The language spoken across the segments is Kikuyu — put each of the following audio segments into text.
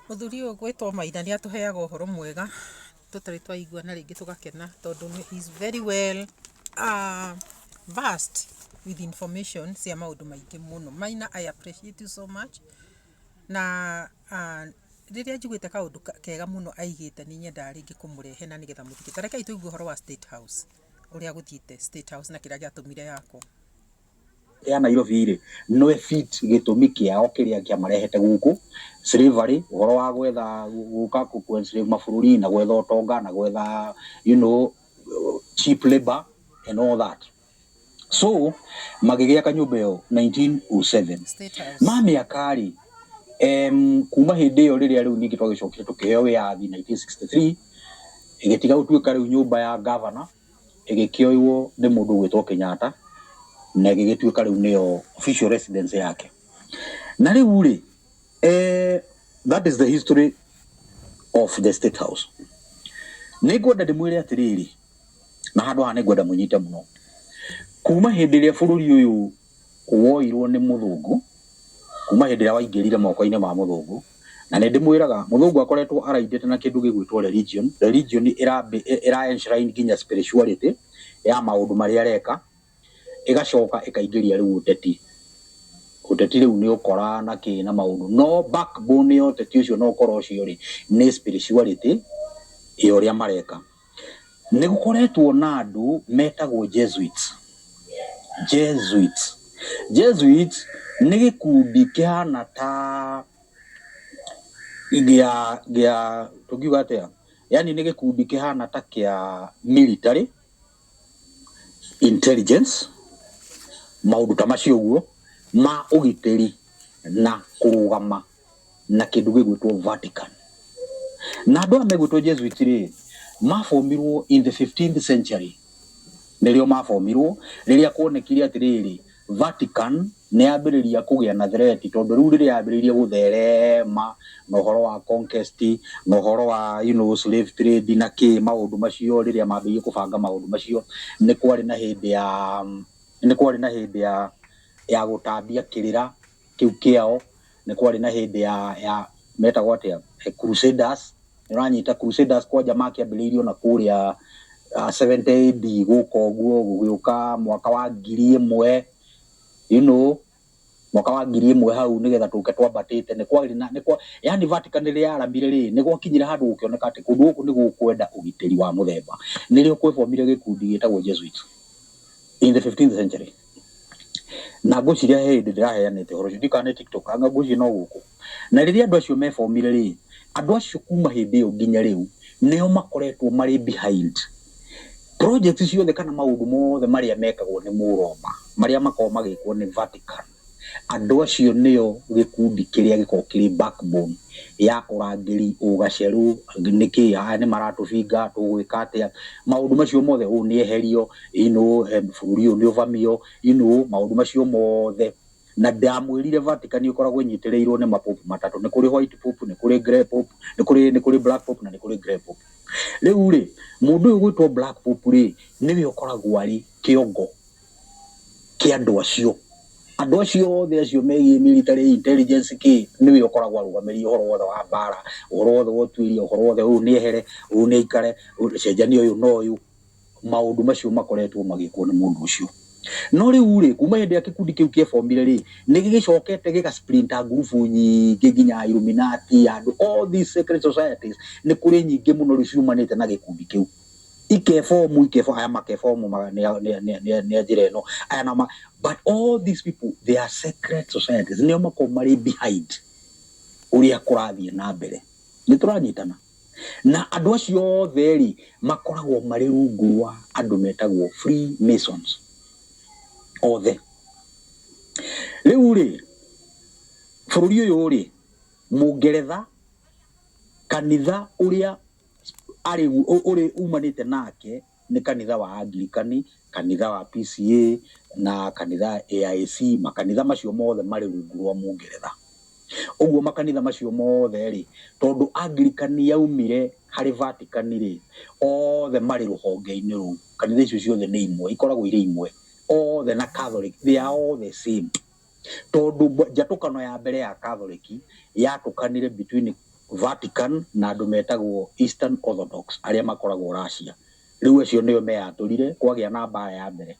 Mũthuri ũyũ ũgwĩtwo Maina nĩ atũheaga ũhoro mwega tũtarĩ twaigua na rĩngĩ tũgakena tondũ he is very well uh, versed with information cia maũndũ maingĩ mũno. Maina I appreciate you so much na uh, rĩrĩa njiguĩte kaũndũ kega mũno aigĩte nĩ nyendaga rĩngĩ kũmũrehe na nĩgetha mũthikĩrĩrie. Ta rekei tũigue ũhoro wa State House ũrĩa gũthiĩte State House na kĩrĩa gĩatũmire yakwo. ya Nairobi rĩ no fit gĩtũmi kĩao kĩrĩa kĩamarehete gũkũ slavery ũhoro wa gwetha gũka ku enslave mabũrũri na gwetha ũtonga na gwetha you know cheap labor and all that so magĩgĩa kanyũmba ĩyo 1907 State House. ma mĩaka rĩ em, kuma hĩndĩ ĩyo rĩrĩa rĩu ningĩ twagĩcokire tũkĩheo wĩyathi 1963 ĩgĩtiga gũtuĩka rĩu nyũmba ya gavana ĩgĩkĩoywo nĩ mũndũ ũgwĩtwo Kenyatta na ĩgĩgĩtuĩka rĩu nĩyo official residence yake. Na rĩu rĩ, that is the history of the State House. Nĩ ngwenda ndĩmwĩre atĩrĩrĩ, na handũ haha nĩ ngwenda mũnyite mũno, kuma hĩndĩ ĩrĩa bũrũri ũyũ... woirwo nĩ mũthũngũ kuma hĩndĩ ĩrĩa waingĩrire moko-inĩ ma mũthũngũ, na nĩ ndĩmwĩraga mũthũngũ akoretwo araindĩte na kĩndũ gĩgwĩtwo religion, religion ĩra enshrine nginya spirituality ya maũndũ marĩa areka, ĩgacoka ĩkaingĩria rĩu ũteti, ũteti rĩu nĩ ũkora na kĩ na maũndũ, no backbone ya ũteti ũcio na ũkora ũcio rĩ nĩ spirituality ya ũrĩa mareka. Nĩ gũkoretwo na andũ metagwo Jesuits. Jesuits. Jesuits nĩ gĩkundi kĩhana ta gĩa gĩa tũngiuga atĩa? Yaani nĩ gĩkundi kĩhana ta kĩa military, intelligence, maũndũ ta macio ũguo ma ũgitĩri na kũrũgama. na kĩndũ gĩgwĩtwo Vatican. Na andũ aya megwĩtwo Jesuit rĩ, mabomirwo in the 15th century nĩrĩo mabomirwo rĩrĩa kuonekire atĩrĩrĩ Vatican nĩ yambĩrĩria kũgĩa na threat tondũ rĩu rĩrĩa yambĩrĩirie gũtherema na ũhoro wa conquest na ũhoro wa you know, slave trade na kĩ maũndũ macio rĩrĩa mambĩrĩirie kũbanga maũndũ macio nĩ kwarĩ na hĩndĩ ya nĩ kwarĩ na hĩndĩ ya ya gũtambia kĩrĩra kĩu kĩao nĩ kwarĩ na hĩndĩ ya, ya metagwo atĩa Eh, crusaders nĩ ũranyita crusaders kwanja makĩambĩrĩirio na kũrĩa uh, 70 AD gũka ũguo gũgĩũka mwaka wa ngiri ĩmwe you know mwaka wa ngiri ĩmwe hau nĩgetha tũke twambatĩte nĩ kwarĩ na nĩ kwa yani Vatican rĩrĩa yaramire rĩ nĩ gwakinyire handũ gũkĩoneka atĩ kũndũ gũkũ nĩ gũkwenda ũgitĩri wa mũthemba nĩrĩo kwebomire gĩkundi gĩtagwo Jesuits in the 15th century Na ngwĩciria he hĩndĩ ndĩraheanĩte ũhoro ũcio, ndiũĩ kana nĩ TikTok, anga ngwĩciria no gũkũ. Na rĩrĩa andũ acio mebomire rĩ, andũ acio kuma hĩndĩ ĩyo nginya rĩu, nĩo makoretwo marĩ behind project ciothe kana maũndũ mothe marĩa mekagwo nĩ Mũroma, marĩa makoragwo magĩkwo nĩ Vatican, andũ acio nĩo gĩkundi kĩrĩa gĩkoragwo kĩrĩ backbone ya ũrangĩri, ũgacerũ, nĩkĩĩ, aya nĩ maratũbinga, tũgwĩka atĩa, maũndũ macio mothe, ũũ nĩ eherio. you know, em, bũrũri ũyũ nĩ ũbamio you know, maũndũ macio mothe na ndamwĩrire Vatican ĩkoragwo ĩnyitĩrĩirwo nĩ mapopu matatũ nĩ kũrĩ white pope nĩ kũrĩ grey pope nĩ kũrĩ nĩ kũrĩ black pope na nĩ kũrĩ grey pope rĩu rĩ mũndũ ũyũ gwĩtwo black pope rĩ nĩwe ũkoragwo arĩ kĩongo kĩa andũ acio andũ acio othe acio megiĩ military intelligence kĩ nĩwe ũkoragwo arũgamĩrĩire ũhoro wothe wa mbara ũhoro wothe wa ũtuĩria ũhoro wothe ũyũ nĩ ehere ũyũ nĩ aikare ũyũ- cenjania ũyũ na ũyũ maũndũ macio makoretwo magĩkwo nĩ mũndũ ũcio. No rĩu-rĩ, kuma hĩndĩ ĩrĩa gĩkundi kĩu kĩebomire-rĩ, nĩ gĩgĩcokete gĩga splinter ngurubu nyingĩ nginya Illuminati, andũ, all these secret societies, nĩ kũrĩ nyingĩ mũno rĩu ciumanĩte na gĩkundi kĩu. Ikebomu, ikebomu, aya makebomu nĩ a njĩra ĩno, aya nao ma, but all these people, they are secret societies, nĩo makoragwo marĩ behind ũrĩa kũrathiĩ na mbere. Nĩ tũranyitana? Na andũ acio othe-rĩ, makoragwo marĩ rungu rwa andũ metagwo Free Masons othe. Rĩu-rĩ, bũrũri ũyũ-rĩ, Mũngeretha, kanitha ũrĩa arĩ, ũrĩ umanĩte nake, Nĩ kanitha wa Angirikani, kanitha wa PCA na kanitha AIC, makanitha macio mothe marĩ rungu rwa Mũngeretha. Ũguo makanitha macio mothe rĩ, tondũ Angirikani yaumire harĩ Vatican rĩ, othe marĩ rũhonge-inĩ rũu. Kanitha icio ciothe nĩ imwe, ikoragwo irĩ imwe. Othe na Catholic, they are all the same. tondũ mb- njatũkano ya mbere ya Catholic yatũkanire between Vatican na andũ metagwo Eastern Orthodox arĩa makoragwo Russia. Rĩu acio nĩo meyatũrire, kwagĩa na mbara ya mbere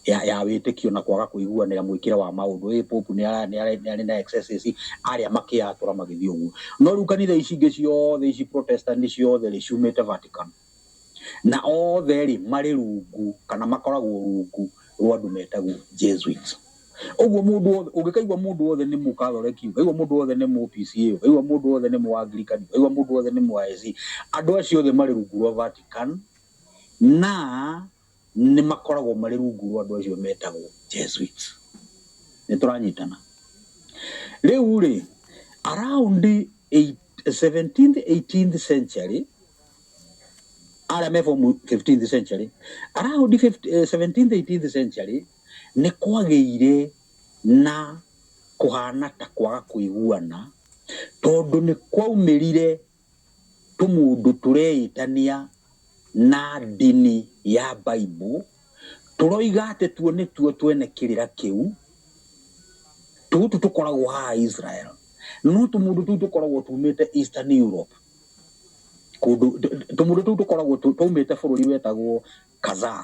ya, ya wĩtĩkio na kwaga kũiguanĩra mwĩkĩre wa maũndũ. Ĩĩ Pope nĩ ara- nĩ ara- nĩ arĩ na excesses, arĩa makĩyatũra magĩthiĩ ũguo. No rĩu kanitha ici ingĩ ciothe ici Protestant ciothe rĩ, ciumĩte Vatican. Na othe-rĩ, marĩ rungu kana makoragwo rungu rwa andũ metagwo Jesuits. Ũguo mũndũ wothe, ũngĩkaigua mũndũ wothe nĩ Mũkathoreki, ũkaigua mũndũ wothe nĩ Mũ-PCEA, ũkaigua mũndũ wothe nĩ Mũ-Angirikani, ũkaigua mũndũ wothe nĩ Mũ-ISC, andũ acio othe marĩ rungu rwa Vatican, na. nĩ makoragwo marĩ rungu rwa andũ acio metagwo Jesuits. Nĩ tũranyitana. Rĩu rĩ, around 17th, 18th century, arĩa me form 15th century, around 17th, 18th eh, century, nĩ kwagĩire na kũhana ta kwaga kũiguana tondũ nĩ kwaumĩrire Tũmũndũ tũreĩtanĩa na ndini ya Baibũ tũroiga atĩ tuo nĩtuo twene kĩrĩra kĩu. Tũtũ tũkoragwo haha Israel, no tũmũndũ tũu tũkoragwo tumĩte Eastern Europe, kũndũ tũmũndũ tũu tũkoragwo twaumĩte bũrũri wetagwo Kazaa.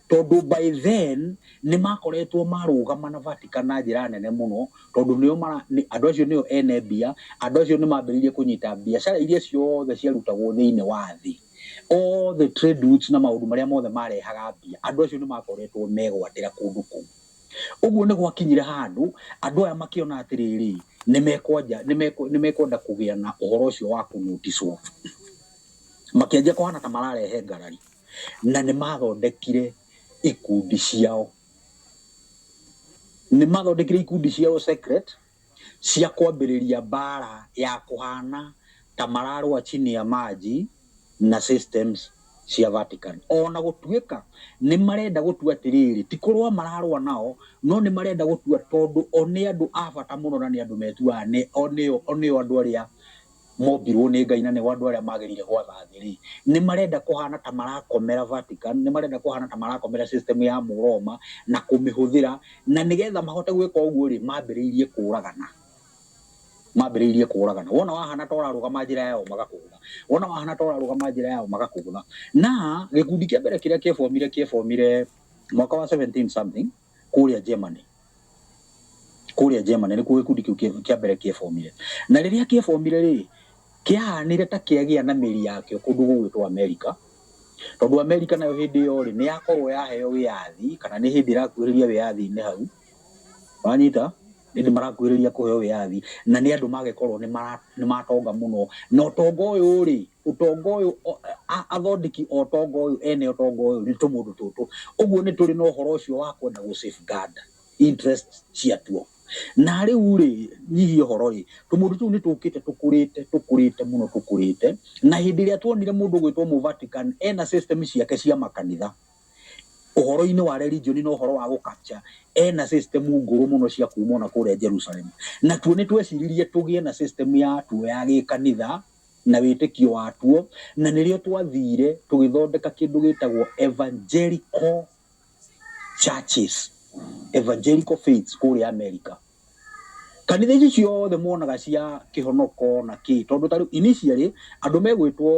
Tondũ by then nĩmakoretwo marũgama na Vatican na njĩra nene mũno, tondũ nĩo mara, andũ acio nĩo ene mbia, andũ acio nĩmambĩrĩirie kũnyita biacara iria ciothe ciarutagwo thĩinĩ wa thĩ, all the trade routes na maũndũ marĩa mothe marehaga mbia, andũ acio nĩmakoretwo megwatĩra kũndũ kũu. Ũguo nĩgwakinyire handũ andũ aya makĩona atĩrĩrĩ, nĩmekwanja, nĩmekwe, nĩmekwenda kũgĩa na ũhoro ũcio wa kũ notice off. Makĩanjia kũhana ta mararehe ngarari. Na nĩ maathondekire ikundi ciao. Nĩ maathondekire ikundi ciao secret cia kwambĩrĩria mbaara ya kũhaana ta mararũa chini ya maji na systems cia Vatican. O na gũtuĩka nĩ marenda gũtua atĩrĩrĩ, ti kũrũa mararũa nao, no nĩ marenda gũtua tondũ o nĩ andũ a bata mũno na nĩ andũ metuaga nĩ o nĩo andũ arĩa mombirũo nĩ Ngai na nĩo andũ arĩa magĩrĩire gwatha thĩ-rĩ, nĩ marenda kũhaana ta marakomera Vatican, nĩ marenda kũhaana ta marakomera system ya Mũroma na kũmĩhũthĩra, na nĩgetha mahote gwĩka ũguo-rĩ, mambĩrĩirie kũũragana. Mambĩrĩirie kũũragana. Wona wahaana ta ũrarũgama njĩra yao magakũgũtha, wona wahaana ta ũrarũgama njĩra yao magakũgũtha. Na gĩkundi kĩa mbere kĩrĩa kĩebomire kĩebomire mwaka wa seventeen something, kũrĩa Germany kũrĩa Germany nĩ kuo gĩkundi kĩu kĩa mbere kĩebomire na rĩrĩa kĩebomire rĩ kĩahanire ta kĩagĩa na mĩri yakĩo kũndũ gũgwĩtwo Amerika tondũ Amerika nayo hĩndĩ ĩyo rĩ nĩ yakorwo yaheo wĩyathi kana nĩ hĩndĩ ĩrakuhĩrĩria wĩyathi-inĩ hau wanyita ĩndĩ marakuhĩrĩria kũheo wĩyathi na nĩ andũ magĩkorwo nĩ matonga mũno na ũtonga ũyũ rĩ ũtonga ũyũ o- a- athondeki a ũtonga ũyũ ene ũtonga ũyũ nĩ tũmũndũ tũtũ ũguo nĩ tũrĩ na ũhoro ũcio wa kwenda gũ safeguard interest ciatuo na rĩu rĩ nyihia ũhoro rĩ tũmũndũ tũu nĩ tũkĩte tũkũrĩte tũkũrĩte mũno tũkũrĩte na hĩndĩ ĩrĩa tuonire mũndũ gwĩtwo mũ Vatican ena system ciake cia makanitha ũhoro-inĩ wa religion na ũhoro wa gũkapcha ena system ngũrũ mũno cia kuma ona kũrĩa Jerusalem natuo nĩ tweciririe tũgĩe na system ya tuo ya gĩkanitha na wĩtĩkio watuo, na nĩrĩo twathiire tũgĩthondeka kĩndũ gĩtagwo Evangelical Churches, Evangelical Faiths kũrĩa Amerika. Kanitha ici ciothe monaga cia kĩhonoko na kĩĩ, tondũ ta rĩu initially andũ megwĩtwo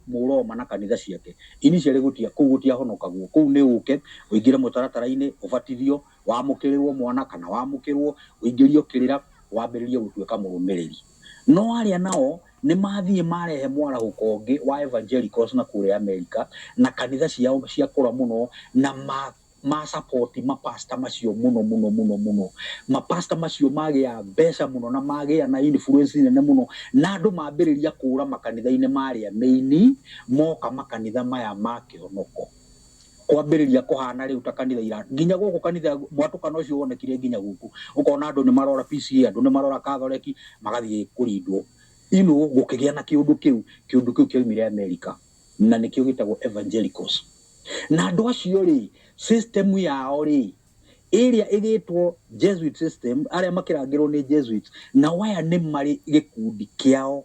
Mũroma na kanitha ciake, initially gũtia, kũu gũtiahonokagwo, kũu nĩ ũke ũingĩre mũtaratara-inĩ, ũbatithio, Wamũkĩrĩrũo mwana kana wamũkĩrũo, ũingĩrio kĩrĩra, wambĩrĩrie gũtuĩka mũrũmĩrĩri. No arĩa nao nĩ mathiĩ marehe mwarahũko ũngĩ wa evangelicals na kũrĩa Amerika na kanitha ciao ciakũra mũno na ma ma support ma pastor macio mũno mũno mũno mũno. Ma pastor macio magĩa mbeca mũno na magĩa na influence nene mũno na andũ mambĩrĩria kũũra makanitha-inĩ marĩa mĩini moka makanitha maya ma kĩhonoko. kwambĩrĩria kũhana rĩu ta kanitha ira nginya gũkũ kanitha mwatũkana ũcio wonekire nginya gũkũ ũkona andũ nĩ marora PCA andũ nĩ marora kathoreki magathiĩ kũrindwo ino gũkĩgĩa na kĩũndũ kĩu kĩũndũ kĩu kĩoimire Amerika na nĩkĩo gĩtagwo evangelicals na andũ acio rĩ system yao rĩ ĩrĩa ĩgĩtwo Jesuit system arĩa makĩrangĩrwo nĩ Jesuits na waya nĩ marĩ gĩkundi kĩao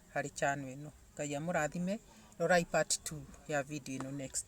harĩ channel ĩno ngai amũrathime rorai part 2 ya video ĩno next